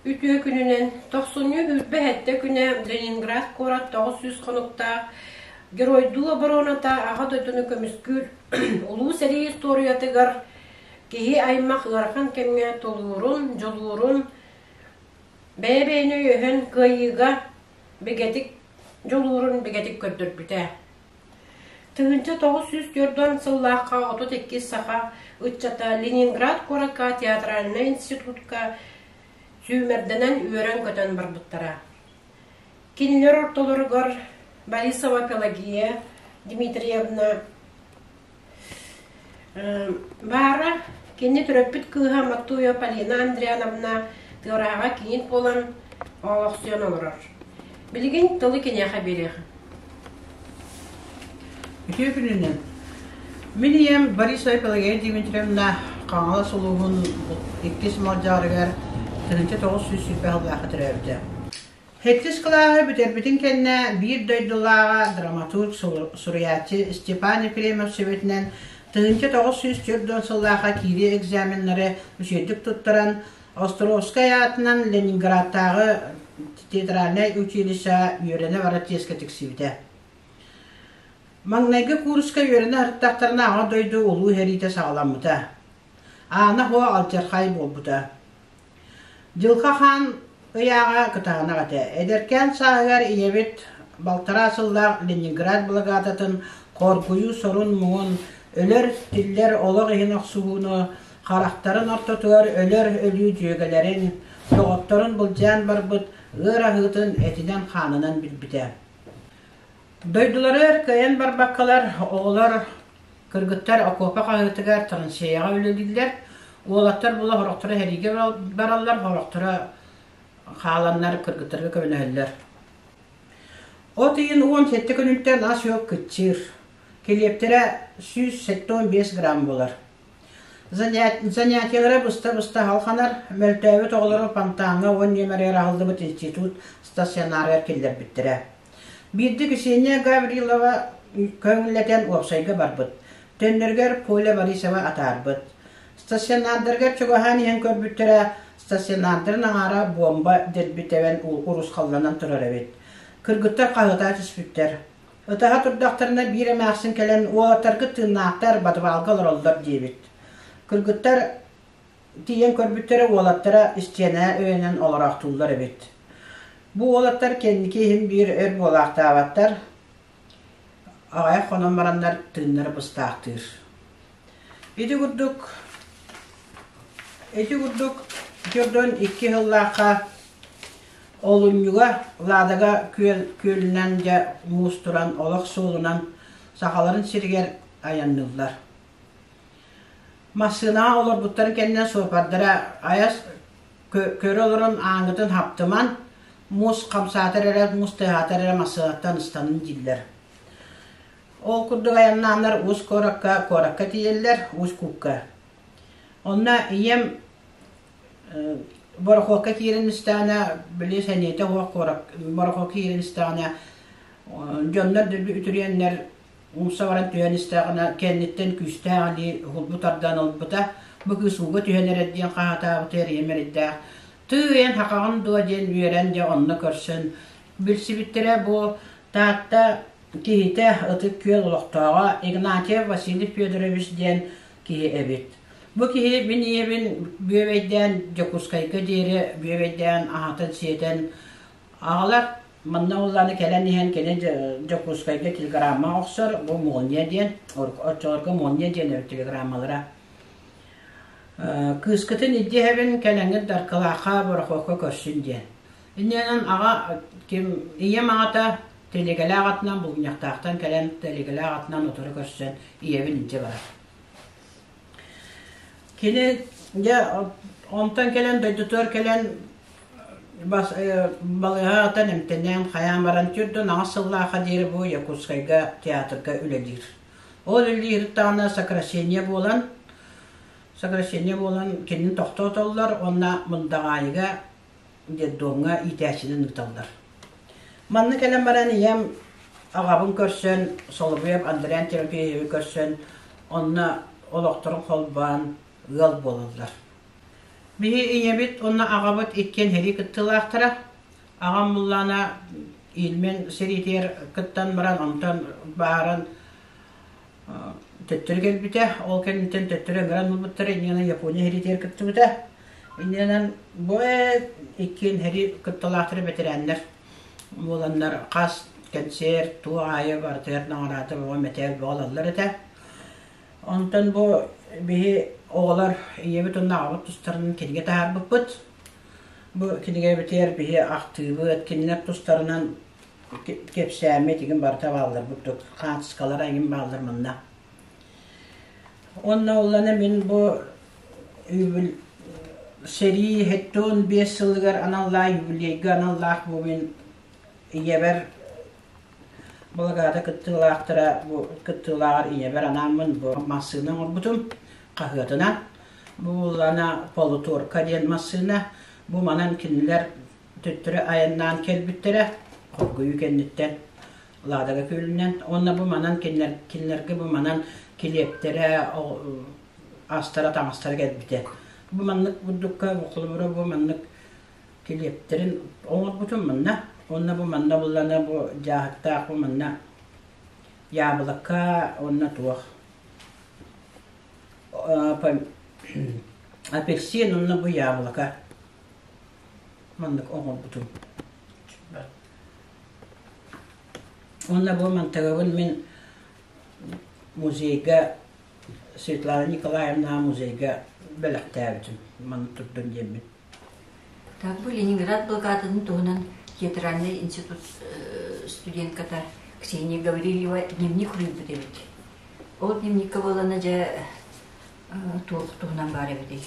Үтүө күнүнэн тохсунньу үрбэ хэттэ күнэ Ленинград куорат тоҕус сүүс хонуктаах Геройдуу обороната аҕа дойдуну көмүскүүр улуу сэрии историятыгар Киһи аймах ыарахан кэмҥэ тулуурун, дьулуурун, бэйэ-бэйэни өйөһөн кыайыыга бигэтик дьулуурун бигэтик көрдөрбүтэ. Тыһыынча тоҕус сүүс түөрт сыллаахха отут иккис саха ыччата Ленинград куоракка театральнай институтка сүүмэрдэнэн үөрэн-көтөн барбыттара. Кинилэр ортолоругар Борисова Пелагея Дмитриевна Баара кини төрөппүт кыыһа Маттуйа Полина Андриановна тыарааҕа киһит буолан оолохсуйан олорор. Билигин тылы киниэхэ биэриэх. Үтүө күнүнэн. Мин ийэм Борисова Пелагея Дмитриевна Хаҥалас улууһун иккис Малдьаарыгар тыһыынча тоҕус сүүс сүүрбэ аһыллаахха төрөөбүтэ. Сэттис кылааһы бүтэрбитин кэннэ биир дойдулааҕа драматург суруйааччы Степан Ефремов сүбэтинэн тыһыынча тоҕус сүүс түөрт уон сыллаахха киирии экзаменнары үчүгэйдик туттаран Островскай аатынан Ленинградтааҕы театральнай училищеҕа үөрэнэ барар тиэскэ тиксибитэ. Маҥнайгы кууруска үөрэнэ артыктахтарына Аҕа дойду улуу сэриитэ саҕаламмыта. Аана Һуо алдьархай буолбута. Дьылҕа Хаан ыйааҕа кытаанах этэ. Эдэркээн сааһыгар ийэбит балтараа сыллаах Ленинград благаататын хоргуйуу сорун-муҥун, өлөр-тиллэр олох иһин охсуһууну, харахтарын ортотугар өлөр өлүү дьүөгэлэрин, доҕотторун былдьаан барбыт ыар аһыытын этинэн-хаанынан билбитэ. Дойдулары өр кыайан барбаккалар, оҕолор, кыргыттар окуопа хаһыытыгар, Танцияҕа үлэлииллэр, уолаттар була сорохторо сэриигэ бараллар, сорохторо хааланнар кыргыттарга көмөлөһөллөр. От ыйын уон сэттэ күнүттэн ас-үөл кыччыыр. Килиэптэрэ сүүс сэттэ уон биэс грамм буолар. Занятиелара быста-быста салҕанар, мөлтөөбүт оҕолору фонтаҥҥа уон нүөмэригэр аһыллыбыт институт стационарыгар киллэрбиттэрэ. Биирдэ Ксения Гаврилова көҥүллэтэн уопсайга барбыт, төннөрүгэр Коля Борисова атаарбыт. Стационардарыгар чугаһаан иһэн көрбүттэрэ, стационардарын аҥаара буомба дэрби тэбэн урусхалланан турар эбит. Кыргыттар хаһыытаа түспүттэр. Ытаһа турдахтарына биир эмээхсин кэлэн уолаттаргыт тыыннаахтар подвалга олороллор диэбит. Кыргыттар тиийэн көрбүттэрэ уолаттара истиэнэ өйөнөн олороохтууллар эбит. Бу уолаттар кэнники иһин биир өр буолаахтаабаттар. Аҕайах хонон бараннар тыыннара быстаахтыыр. Ити курдук ити курдук Дьордон икки сыллаахха олунньуга Ладага күөл күөлүнэн дьэ муустуран олох суолунан сахаларын сиригэр айанныыллар. Массыынаҕа олорбуттарын кэннэ суопардара айас көрө олорон ааҥытын хаптыман, муус хамсаатар эрэ, муус тыаһаатар эрэ массыынаттан ыстанан дииллэр. Ол курдук айаннааннар уус куоракка, куоракка тиийэллэр, уус куукка. Онно ийэм борохуокка киирэн истэҕинэ, били сэниэтэ суох куорак борохуокка киирэн истэҕинэ, дьоннор үтүрүйэннэр умса баран түһэн истэҕинэ, кэнниттэн күүстээх илии хулбу тардан ылбыта. Бу кыыс ууга түһэн эрэр диэн хаһаатаабыта, эрэйим эрэйдээх. Тыый, эн хахаҕын дуо диэн үөрэн дьэ онно көрсөн Билсибиттэрэ бу Таатта киһитэ, Ытык Күөл олохтооҕо Игнатьев Василий Федорович диэн киһи эбит. Бу киһи мин ийэбин бүөбэйдээн Дьокуускайга диэри бүөбэйдээн аһатан сиэтэн аҕалар манна уллааны кэлэн иһэн кини Дьокуускайга телеграмма охсор бу молния диэн оччолорго молния диэн өр телеграммалара кыыскытын илдьэ эбин кэлэҥҥит Даркылаахха Борохуокка көрсүн диэн Иннинэн аҕа ким ийэм аҕата тэлиэгэлээх атынан булгунньахтаахтан кэлэн тэлиэгэлээх атынан утары көрсөн ийэбин илдьэ барар. Кини дьэ онтон кэлэн дойдутугар кэлэн бас балыыһа атан эмтэнэн хайаан баран түрдүн аҕыс сыллааха диэри бу Якутскайга театрга үлэлиир. Ол үлэлииртаана сокращение буолан сокращение буолан кинини тохтоотоллор уонна мындаҕаайыга детдомҥа иитээччинэн ыыталлар. Манна кэлэн баран ийэм аҕабын көрсөн, Соловьев Андриан Терапеевы көрсөн, онно олохторун холбоон ыал буолаллар. Биһи ийэбит уонна аҕабыт иккиэн херии кыттыылаахтара. Аҕам муллаана илмин сириитигэр кыттан баран, онтон бааран төттөрү кэлбитэ, ол кэнниттэн төттөрү ыҥыран ылбыттара, иннинэ Япония иһиритигэр кыттыбыта. Иннинэн бу иккиэн иһири кытталаахтара бэтэрээннэр буоланнар хас кэнсиэр туу аайы барытыгар наҕараата бөҕө мэтээл бөҕө ылаллар этэ. Онтон бу биһи оҕолор ийэбит уонна аҕабыт тустарынан кинигэ таһаарбыппыт. Бу кинигэбитигэр биһи ахтыыбыт, кинилэр тустарынан кэпсээммит игин барыта баалларбыт дук хаартыскалара игин бааллар манна уонна уллана мин бу үбүл сэрии хэттон биэс сылыгар аналлаах юбилейга аналлаах бу мин ийэбэр благаада кыттыылаахтара бу кыттыылааҕар ийэбэр анааммын бу массыына оҥорбутум хаһыатынан бу уллана полуторка диэн массыына бу манан кинилэр төттөрү айаннаан кэлбиттэрэ хоргуйуу кэнниттэн Ладога күөлүнэн уонна бу манан кинилэр, кинилэргэ бу манан килиэптэрэ астара-таҥастара кэлбитэ. Бу маннык бурдукка холобура бу маннык килиэптэрин оҥорбутум манна. Уонна бу манна буллана бу дьааһыктаах бу манна яблока уонна туох апельсин уонна бу яблоко маннык оҥорбутум уонна бу мантагабын мин музейга Светлана Николаевна музейга бэлэхтээбитим манна турдун диэммин так бу Ленинград блокадатын туһунан театральный институт э, студентката Ксения Гаврильева дневник уруйбут эбит ол дневникка болана же туох туһунан баар эбитий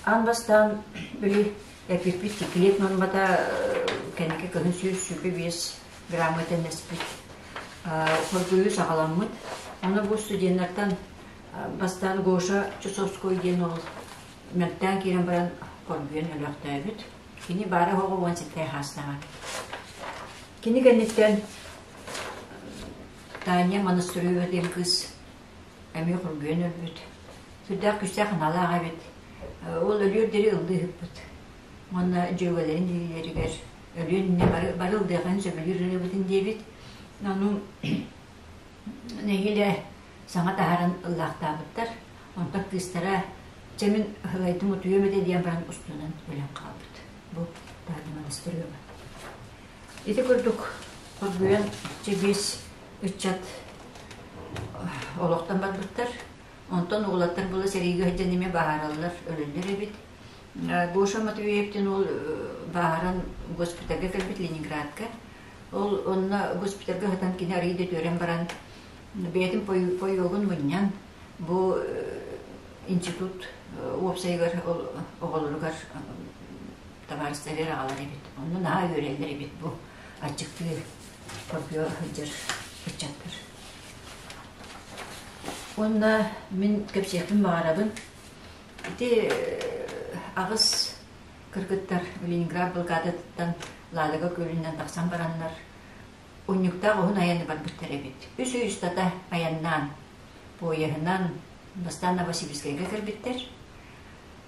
аан бастаан били эппиппит киклет нормата кэнники кыны сүүс сүпэ биэс грамма тэннэспит хоргуйу саҕаламмыт оны бу студеннартан бастаан гоша чусовской диэн ол мөлтөөн киирэн баран хоргуйан өлөөхтөөбүт кини баара хоҕо уон сэттэй хаастаҕа кини кэнниттэн таанья монастырыга диэн кыыс эмиэ кургуйан өлбүт. Сүрдээх-күстээх аналаах эбит. Ол өлүөр диэри ыллыы сыппыт. Уонна дьүөгэлэрин дьиэлэригэр өлүөр иннэ бары ылдыахын сөбүлүүр ырыабытын диэбит. Ону нэһиилэ саҥа таһааран ыллаахтаабыттар. Онтон кыыстара чэмин ыһыгайтым утуйуом этэ диэн баран устунан өлөн хаалбыт. Бу Таатымалыс ырыаба. Ити курдук Курбуйан чэгиэс ыччат олохтон барбыттар. Онтон уолаттар була сэриигэ сылдьан эмиэ бааһыраллар, өлөллөр эбит. Гоша Матвеевтин уол бааһыран госпитальга кэлбит Ленинградка. Ол онно госпитальга сытан кини арыый да түөрэн баран бэйэтин поёгун мунньан бу институт уопсайыгар оҕолоругар табаарыстарыгар аҕалар эбит. Онно наһаа үөрэллэр эбит бу аччыктыы хоргуйа сылдьар ыччаттар. Уонна мин кэпсиэхпин баҕарабын. Ити аҕыс кыргыттар Ленинград былгаатыттан Ладога күөлүнэн тахсан бараннар унньуктаах уһун айаны барбыттар эбит. Үс үйүстата айаннаан, поеһынан бастаан Новосибирскайга кэлбиттэр.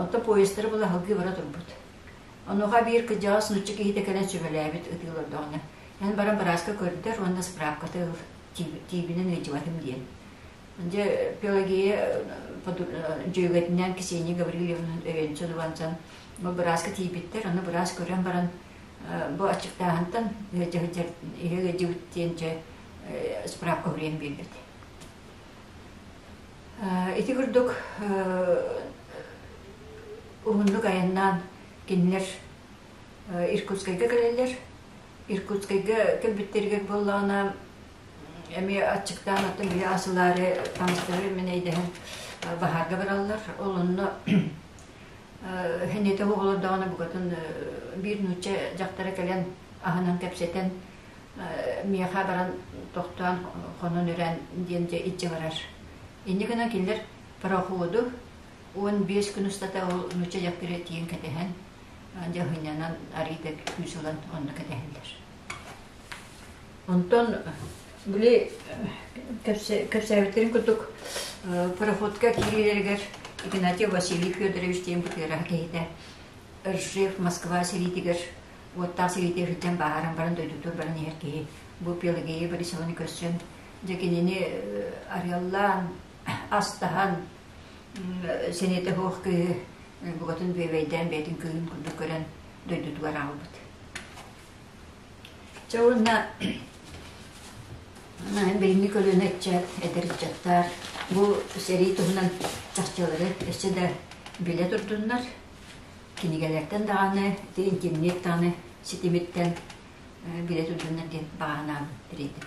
Оттон поездтары була аһылгыы бара турбут. Онуоха биир кырдьаҕас нуччу киһитэ кэлэн сөбүлээбит ытыылордооҕуна, эн баран бырааска көрдөр уонна справката ыл, тиибинэн ыйдьыбатым диэн. Дьэ, Пелагея дьүөгэтинээн Ксения Гаврильевнан өйөнчөн ылансан, бу бырааска тиийбиттэр, ону быраас көрөн баран, бу аччыктааһынтан ыалдьыбыт диэн дьэ, справка уриэн биэрбит. Ити курдук уһуннук айаннаан кинилэр Иркутскайга кэлэллэр. Иркутскайга кэлбиттэригэр буоллаҕына эми аччыктаан оттон били асылаары таҥастары мэнэйдэһэн баһаарга бараллар. Ол онно хэннете оҕолордоҕуна букатын биир нуучча дьахтара кэлэн аһынан кэпсэтэн миэхэ баран тохтоон хонон үрэн диэн дьэ иччи барар инньэ гынан киллэр проходу уон биэс күн устата ол нуучча дьахтары тиийэн кэтэһэн дьэ һынньанан арыйда күүс ылан онно кэтэһэллэр онтон били кэпсээбиттерин курдук проходка киирилэригэр Игнатий Василий Федорович диэн бытыараһа киһитэ Ржев Москва сэриитигэр уоттаах сириитэ өһүрдэн бааһыран баран дойдутугар баран иһэр киһи бу Пелагея Борисованы көрсөн дьэ кинини арыаллаан астаһан сэниэтэ суох кыыһы букатын бүөбэйдээн бэйэтин кыыһын курдук көрөн дойдутугар аалбыт. Чэ уонна бэйинни көлүөнэ иччэ эдэр ыччаттар бу сэрии туһунан чахчылары эссе да билэ турдуннар Кинигэлэртэн даҕаны, итинник даҕаны ситимиттэн билет үрдүннэр диэн бааһынаабын тириэтим.